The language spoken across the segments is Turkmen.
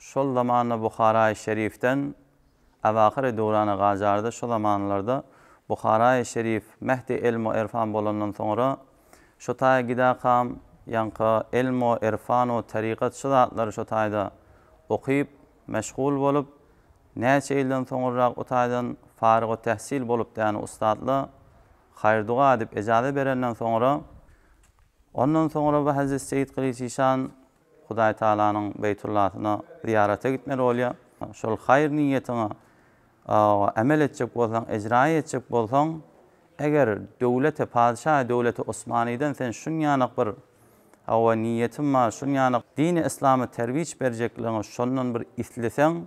Şol zamanda Buharaýy Şerifden Abakyr-y Durana gajardy. Şu zamanlarda Buharaýy Şerif Mehdi Elm we Erfan bolandan soňra şo taýa gidakam, ýaňky elm we erfan we tarykat şu zatlary şo taýda okyp, meşgul bolup, näçe ýyldan soňurrak o taýdan faryg-u-tähsil bolup däne ussatla haýr-duga edip ejaza berenden soňra, ondan soňra bu Hezret Seýit Gylyç işan Hudaý Tagalanyň Beýtullasyna zyýarata gitmeli bolýar. Şol haýyr niýetiňe emel etjek bolsaň, ejraýa etjek bolsaň, eger döwlete, patyşaýa, döwlete Osmanydan sen şunýanok bir, hawa, niýetim bar, şunýanok dini yslamy terwiç berjekligiňi şondan bir isleseň,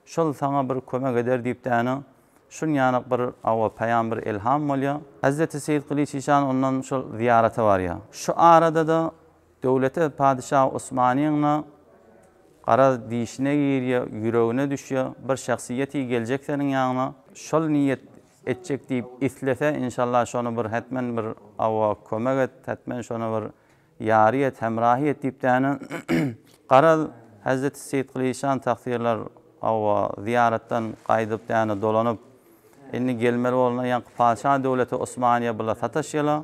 şol saňa bir kömek eder diýip däne, şunýanok bir, hawa, peýam, bir elham bolýar. Hezreti Seýit Gylyç işan ondan şol zyýarata barýar. Şu arada-da Döwlete padyşa Osmanyň-a garaz dişine girýä, ýüregine düşýä, bir şahsyýeti geljek seniň ýanyňa, şol niýet etjek diýip islese, inşallah şony bir hetmen bir awa kömek et, hetmen şony bir ýary et, hemrahy et diýip däne, garaz, Hezreti Seýit Gylyçjan tagsyrlar awa zyýaratdan gaýdyp däne dolanyp, indi gelmeli bolna ýaňky padyşa döwlete Osmanyýa billa sataşýala.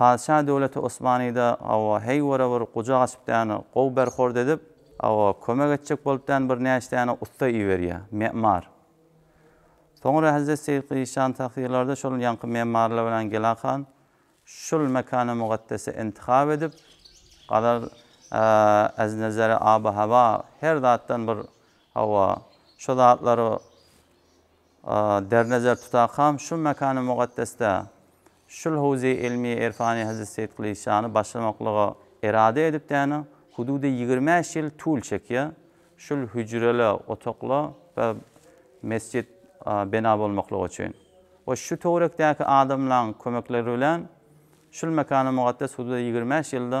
Patyşa döwleti Osmanyda awa heý wara bir gujak açyp däne gowy berhord edip awa kömek etjek bolup däne bir näçe däne ussa iberýä, me'mar. Soňra Hezret Seýit Gyşan Tahyrlarda şol ýaňky me'marlar bilen Gela han şul mekany mugaddesi intihap edip galar az nezeri aba hawa her zatdan bir awa şo zatlary der nezer tutakam şu mekany mugaddesde Şul howzy ylmy erfany Hezret Seýit Gylyçjany başlamaklyga erada edipdäne hududy ýigrimi bäş ýyl tul çekýä. Şul hüjreli otokla bir mesjit bena bolmaklygy üçin we şu töwerekdäki adamlaň kömekleri bilen şul mekana mugeddes hududa ýigrimi bäş ýylda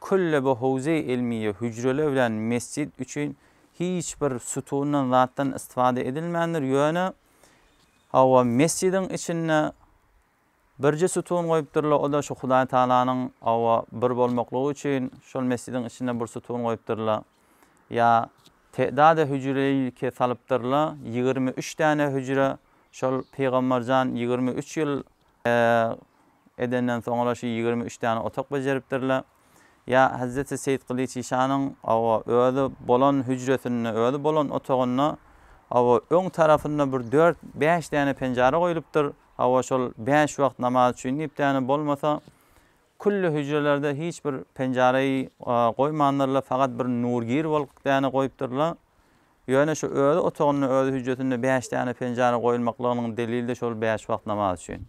Küllebe howzy ilmiýe hüjreler bilen mesjit üçin hiç bir sütundan zatdan istifade edilmändir ýöne hawa mesjidiň içinde birje sütun goýupdyrlar oda şu hudaý tagalanyň hawa bir bolmaklygy üçin şol mesjidiň içinde bir sütun goýupdyrlar ýa te'dade hüjreýlki salypdyrlar ýigrimi üç däne hüjre şol pygamberjan ýigrimi üç ýyl edenden soň olar şu ýigrimi üç däne otak bejeripdirler. Ýa hezreti Seýit Gylyç işanyň, hawa, özi bolan hüjresinde, özi bolan otagynda, hawa, öň tarapynda bir dört, bäş däne penjara goýlupdyr, hawa, şol bäş wagt namaz üçin diýip däne, bolmasa, külli hüjrelerde hiç bir penjara-y goýmandyrlar, fakat bir nurgir bolup däne goýupdyrlar. Ýöne şu öz otagynda, öz hüjjesinde bäş däne penjara goýulmaklygynyň delili-de şol bäş wagt namaz üçin.